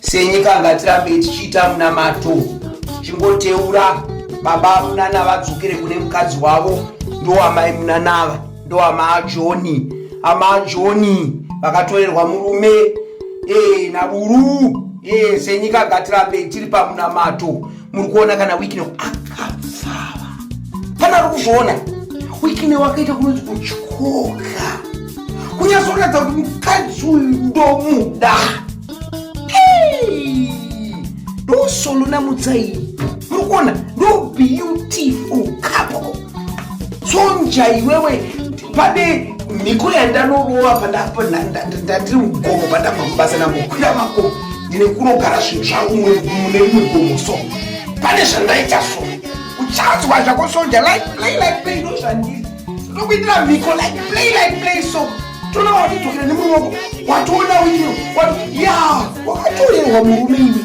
Senyika ngatirambei tichiita munamato chingoteura baba munana vadzokere kune mukadzi wavo ndoamai munanava ndoamaajoni amaajoni vakatorerwa murume ee eh, naburu ee eh, senyika ngatirambei tiri pamunamato muri kuona kana wikine akapfava kana ari kuzviona wikine wakaita kunonzi kutyoka kunyazoratidza kuti mukadzi uyu ndomuda ndosolo namutsai muri kuona ndo beautiful couple sonja iwewe pane mhiko yandanorova pandandiri mugomo pandabva mubasa nambokwira mako ndine kunogara zvinhu zvangu mune rimwe gomo so pane zvandaita so uchanzwa zvako sonja like play like play ndo zvandiri ndokuitira mhiko like play like play so toona watidokera nemuruoko watoona wino ya wakatorerwa murume iwe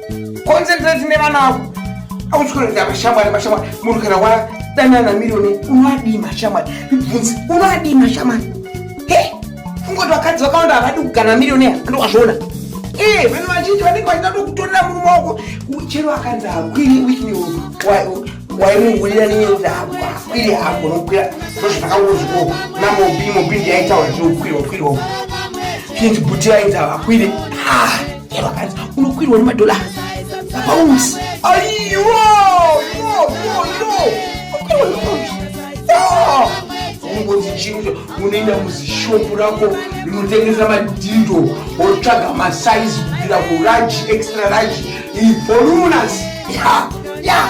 concentrate nevana vako auchikoenda mashamwari mashamwari munhu kana wadanana miriyoni unoadii mashamwari ibvunzi unoadii mashamwari he fungoti vakadzi vakawanda havadi kugana miriyoni ando wazviona ee vanhu vazhinji vanenge vachida tokutorera murume wako chero akanzi hakwiri wikini waimungurira nenyereza hako hakwiri hako nokwira ndozvakangozviko namobi mobi ndiyaitaura zvinokwirwa kwirwa chinzi buti yainzi havakwiri ah chero akanzi unokwirwa nemadhola pausi aiwa ungonzi chii unoenda muzishopu rako rinotengesa madhindo wotsvaga masaizi kubvira kuraji extra raji ivolunas ya ya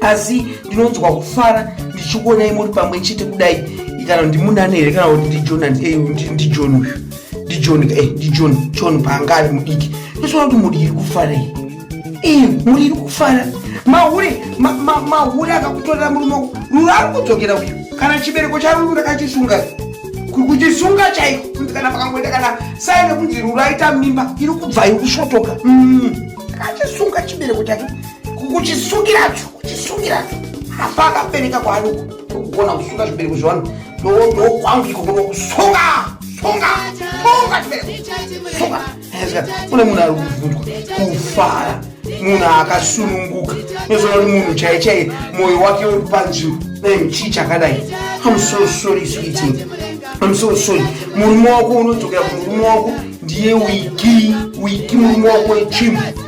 asi ndinonzwa kufara ndichikuonai muri pamwe chete kudai kana ndimunani here kana kuti ndijonan eh, ndijon uyu ndijon eh, ndijon john paanga ari mudiki ndosoona kuti mudiri kufarei eh, mudiri kufara mahure mahure akakutorera murume ruru ari kudzokera uyu kana chibereko charuru ndakachisunga kuchisunga chaiko kunzi kana pakangoita kana sai nekunzi ruru aita mimba iri kubva iri kusvotoka mm. akachisunga chibereko chake kuchisungiracho kuchisungiracho apa akabereka kwaari kugona kusunga zvibereko zvevanhu ndokwangu iko kuno kusunga sunga sunga chibereko sunga kune munhu ari kubvunzwa kufara munhu akasununguka unozoona kuti munhu chai chai mwoyo wake uri panzvimbo nai chii chakadai am so sorry sweeting am so sorry murume wako unodzokera kumurume wako ndiye wiki wiki murume wako wechimbo